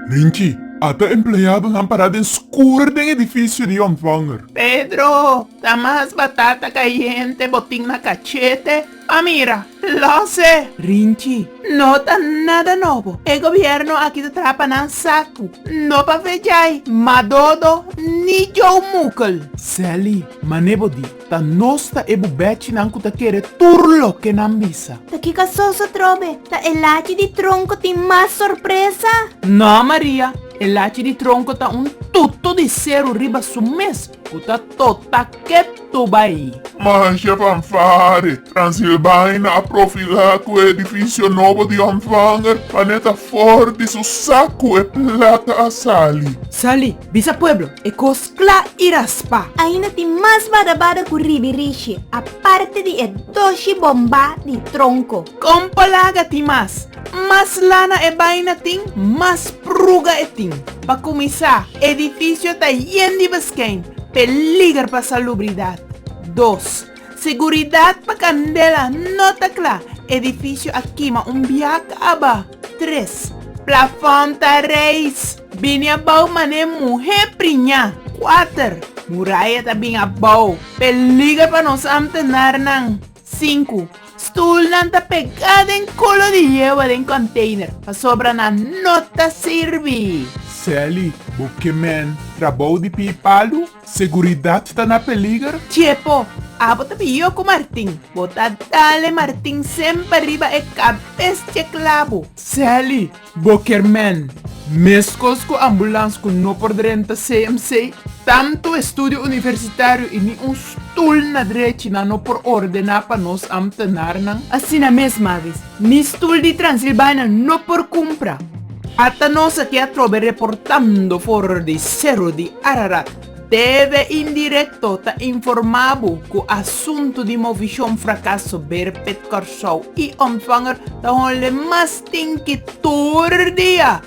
Rinchi, Ata empleadonan para den skur den edifisio di ontvanger. Pedro, Ta mas batata kayente bo tin na kachete pa mira. Los e! Rinchi, No ta nada nobo, e gobièrnu aki ta traha pa nan saku, no pa Vejay, Madodo ni Joe Mukl. Sally, Mane bo di? Ta nos ta e bubechinan cu ta kere tur loke nan bisa. Ta kica soso trobe? Ta e lachi di tronco tin mas sorpresa? No, Maria. E lachi di tronco ta un tutu di seru riba su mes cu ta tota ketu bai. Manja Fanfare Transilbaina a profila cu e edificio nobo di Ontvanger pa ne ta for di su sacu e plata a sali. Sali, bisa pueblo, e cos Pla i raspa. Ainda tin mas badabada ku ribi rishi, aparte di e doshi bombá di tronko. Kompa laga tin mas. Mas lana e baina tin, mas pruga e tin. Pa kuminsá, edifisio ta yen di beskèn, peliger pa salubridat. Dos. Seguridat pa candela no ta cla. Edificio a kima un biak aba tres. Plafon ta reis. Bini abao mané muhé priña kuater. Muraya ta bin abao. Peliger pa nos amtenarnan sinku. Stoelnan ta pegá den kulo di yewa den container pasobra nan no ta sirbi. Sally, bo ke men trabao di pie palu? Seguridat ta na peliger? Chepo, abo ta pio ku Martin. Bo ta dale Martin semper riba e kabes di e klabu. Sally, Bo kier men, meskos ku ambulans ku no por drenta CMC? Tantu e studio universitario i ni un stul na drechi nan no por ordená pa nos ambtenaarnan. Asina mes, Mavis. Ni stul di Transilbania no por kumpra. Ata nos aki a trobe reportando for di Seru di Ararat. TV Indirecto ta informá bo ku asuntu di movishon frakaso Berpet Kòrsou i Ontvanger ta hònle mas tin ki tur dia.